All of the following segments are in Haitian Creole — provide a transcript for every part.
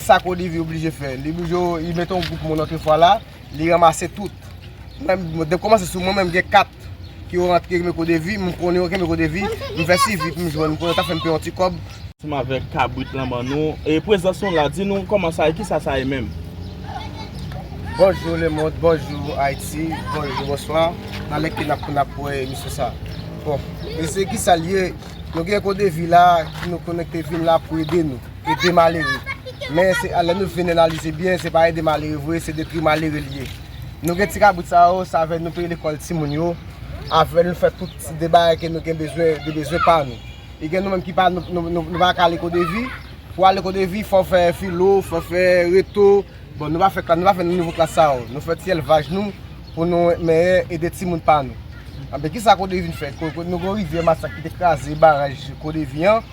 Sak Olivier oblije fè? Li oblije li mete yon gwoup moun antre fwa la, li ranmase tout. Mwen depi kòmanse sou mwen menm gen 4 ki yo rantre ki meko de vi, mwen konnen yo ki meko de vi, mwen fè sivi pou mwen jwenn, mwen konnen yo ta fèm peye yon ti kòb. Ansanm avèk kabrit lan ban nou. E prezans nou la, di nou kòman sa ye, kisa sa ye menm? Bonjou lemond, bonjou Ayiti, bonjou, bonswa. Talè ke nap konn ap wè emisyon sa. Bon, mesye kisa l ye? Nou gen Ekodevi la ki nou konnen ki te vin la pou ede nou. ede malere. Men lè nou vin analize byen se pa ede malere vre se detwi malere li ye. Nou gen ti kabrit sa yo se avèl nou peye lekòl timoun yo, avèl nou fè tout ti de bagay ke nou gen bezwen, de bezwen pa nou. E gen nou menm ki pa nou pa ka ale kodevi, pou ale kodevi fò fè filo, fò fè reto, bon nou pa fè klas, nou pa fè nouvo klas sa yo. Nou fè ti elvaj nou pou nou mèyè ede timoun pa nou. Anben kisa kodevi vin fè? Nou gen yon rivyè masak ki te kraze baraj kodevi an.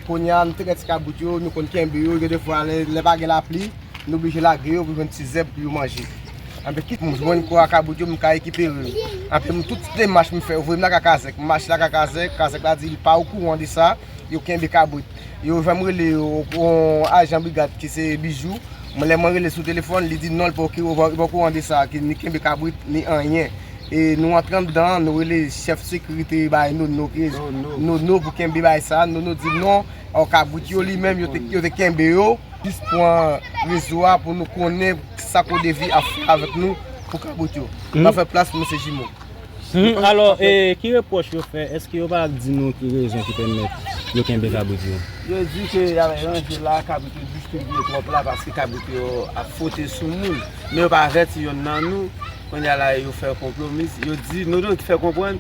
Kounye a, nou te gen ti kabrit yo, nou konn kenbe yo. Gen de fwa, lè pa gen lapli, nou oblije lage yo pou jwenn ti zèb pou yo manje. Anben, kit m jwenn kò a kabrit yo, m ka rekipere yo. Anben, m tout demach m fè, yo voye m lakay kazèk. M mache lakay kazèk, kazèk la di li pa okouran de sa, yo kenbe kabrit. Yo fè m rele yon ajan brigad ki se Bijou. Lè mwen rele l sou telefòn, li di non, li pa okouran de sa, ni kenbe kabrit, ni anyen. E nou antre anndan an, nou rele chèf sekirite yo bay nou nono pou kenbe bagay sa a. Nono di non, o kabrit yo li menm yo te kenbe yo. Jis pran rezo a pou nou konnen sa k o devi ap fè avèk nou pou kabrit yo. Nan fè plas pou mesye jimo. Alò, e ki repwòch yo fè? Èske yo pa di nou ki rezon ki pèmèt yo kenbe kabrit yo? Yo di ke y ap ranje la, kabrit yo distribye twòp la paske kabrit yo ap fwote sou moun. Men yo pa avèti yonn nan nou. Kounya la yo fè konplo miss yo di Nono ki fè konprann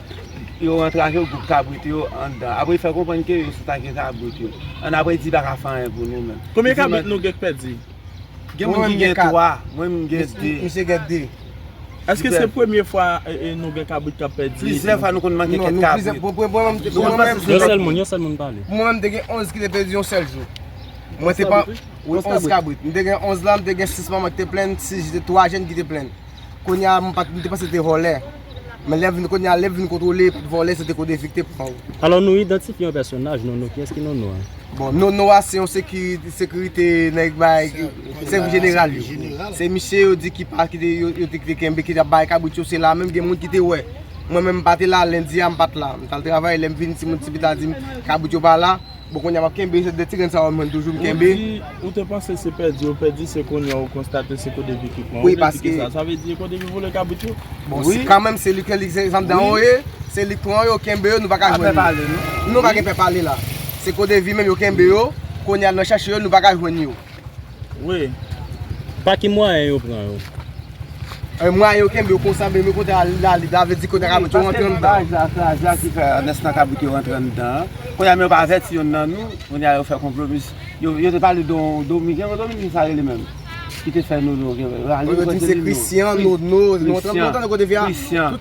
yo antrave gwoup kabrit yo anndan apre li fè konprann ke yo sot atake kabrit yo an apre li di li paka fè anyen pou nou menm. Konbyen kabrit nou gen k pèdi? Gen moun ki gen 3, mwen menm m gen 2. Misye gen 2. Eske se premye fwa nou gen kabrit kap pèdi? Plizyè fwa nou konn manke kèk kabrit. Yon sèl moun, yon sèl moun pale. Pou mwen menm m te gen 11 ki te pèdi yon sèl jou. Mwen te pran 11 kabrit. Mwen te gen 11 la, mwen te gen 6 manman ki te plenn, 3 jenn ki te plenn. Kounye a, mwen te panse se te vòlè. Men lè vin kounye a, lè vin kontwole pou vòlè, se te Kodevi ki te pran yo. Alò nou idantifye yon pèsonaj, Nono. Kiyès ki Nono a? Bon, Nono a se yon sekirite nèg bay, sèvis jeneral yo. Se misye yo di ki pa, ki te, yo te kenbe, ki te ap bay kabrit yo. Se la menm gen moun ki te wè. Mwen menm m pa te la, lendi a m pa t la. M t al travay, lè m vini, timoun ti pita di m kabrit yo pa la. Bon konya map kenbe se 2 ti grenn sa yo m jwenn toujou m kenbe. Ou di ou te panse se pèdi yo pèdi se konya ou konstate se kote vikip lan. Ou vle di kisa? Sa vle di e kote ki vole kabrit yo? Bon si kanmenm se li ki se andan yo ye, se li pran yo, kenbe yo nou pa ka jwenn yo. Nou pa gen pè pale la. Se kodevi menm yo kenbe yo, konya nan chache yo nou pa ka jwenn yo. Wi. Pa ki mwayen yo pran yo? Ay mwayen yo kenbe yo konsa men kote a la lib la vle di kote kabrit yo rantre anndan. Ay sa se ajan ki fè nès nan kabrit yo rantre anndan an. Kounye a men yo pa avèti yonn nan nou, kounye a yo fè konplo plis yo te pale don domi gen yon domi ki sa rele menm? Ki te fè nono gen. Yo di se Christian, nono, nou tande kote vye a? Christian.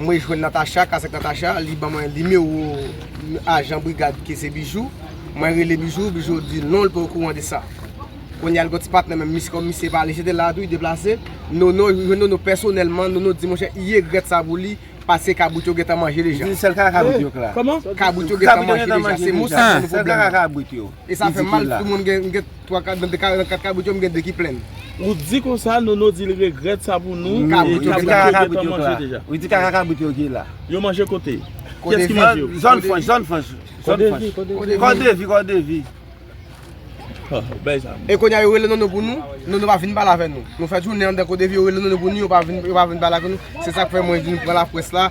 Mwen jwenn Natacha, Kasèk Natacha, li ban mwen nimewo ajan brigad ki se Bijou. Mwen rele Bijou, Bijou di non li pa okouran de sa. Kounye a li gen yon ti patnè menm, misye kòm misye pale, jete la a tou, li deplase. Nono, mwen jwenn Nono pèsonèlman, Nono di monchè, i egrèt sa pou li, paske kabrit yo gentan manje deja. Li di sèl kaka kabrit yo k la. Kòman? Kabrit yo gentan manje deja, se mo sa ki fè nou pwoblèm nan. E sa fèm mal pou moun gen 3 kabrit nan 4 kabrit yo m gen 2 ki plen. Ou di konsa Nono di l regrèt sa pou nou e kabrit yo manje deja. Ou di kaka kabrit yo ki la. Yo manje kote? Kyès ki manje yo? Zòn franch, zòn franch. Kòdevi, kòdevi. Kòdevi, kòdevi. E konya yo rele Nono pou nou, Nono pa vin pale avè nou. Nou fè jounen anndan kòdevi yo rele Nono pou nou yo pa vin pale avè nou. Se sa k fè mwen vin pran laprès la.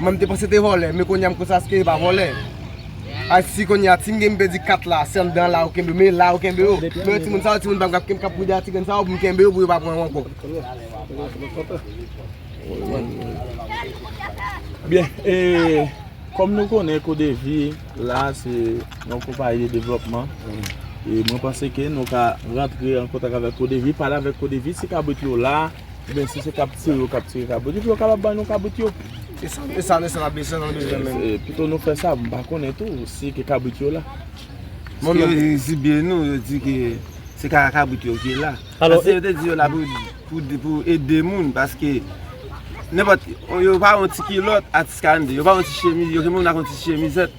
Mwen m te panse te vòlè men kounya m konsa ske e pa vòlè Ay si kounya si m gen m pèdi 4 la se anndan la yo kenbe men la yo kenbe yo Men yo timoun sa yo timoun pa m k ap kenbe k ap pride a ti grenn sa yo pou m kenbe yo pou yo pa pran yo ankò Byen e kòm nou konnen kodevi la se yon konpayi de devlòpman e mwen panse ke nou ka rantre an kontak avèk kodevi pale avèk kodevi si kabrit yo la Ebyen si se kap tire yo kap tire kabrit yo tou yo kapab ban nou kabrit yo. E sa nou ap bezwen nan bezwen menm. Pito nou fè sa mpa konnen tou si ke kabrit yo la. Bon yo di zibye nou yo di ke se ka kabrit yo ki la. Paske yo te di yo la pou ede moun paske nenpòt yo pa yon ti kilòt atis kande yo pa yon ti chemiz yo gen moun ak yon ti chemizèt.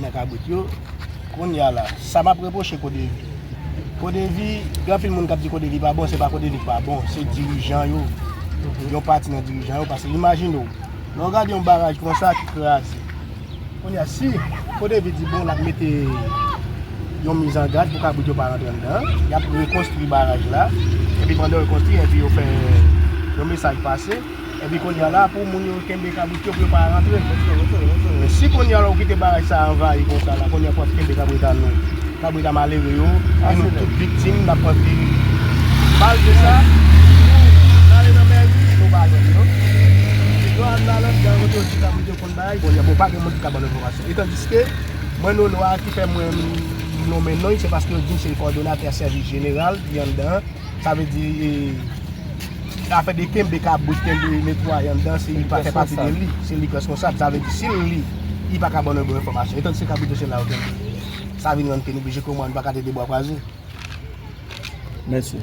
nan kabrit yo kounya la sa map reproche kodevi kodevi gen anpil moun kap di kodevi pa bon se pa kodevi ki pa bon se dirijan yo yon pati nan dirijan yo pase imajine ou lè ou gade yon baraj konsa ki kraze kounya si kodevi di bon lap mete yon mizangad pou kabrit yo pa rantre anndan yap rekonstri baraj la epi pandan yo konstri epi yo fè yon mesaj pase Epi kounya la pou moun yo kenbe kabrit yo pou yo pa rantre. Men si kounya la ou kite baraj sa a anvayi konsa la, kounya pou ap kenbe kabrit a nou, kabrit a malere yo, e nou tout viktim, n ap pran ti bal de sa, nou rale nan mèri, nou pa jwenn yo. Epi lò al nan lòt gang kote yo di kabrit yo konn bay, kounya bon pa gen moun ki ka ban nou enfòmasyon. Etandiske, mwen Nono a ki fè mwen nonmen non li, se paske yo di m se l kòdonatè sèvis jeneral ki anndan an. Sa vle di e afè de kenbe kabrit, kenbe netwaye anndan se li pa fè pati de li. Se li ki reskonsab. Sa vle di si l li, li pa ka ban nou bon enfòmasyon. Etan se kabrit yo se la yo kenbe. Sa vin rann ke nou blije kouman nou pa ka tede bwa kwaze. Mèsi.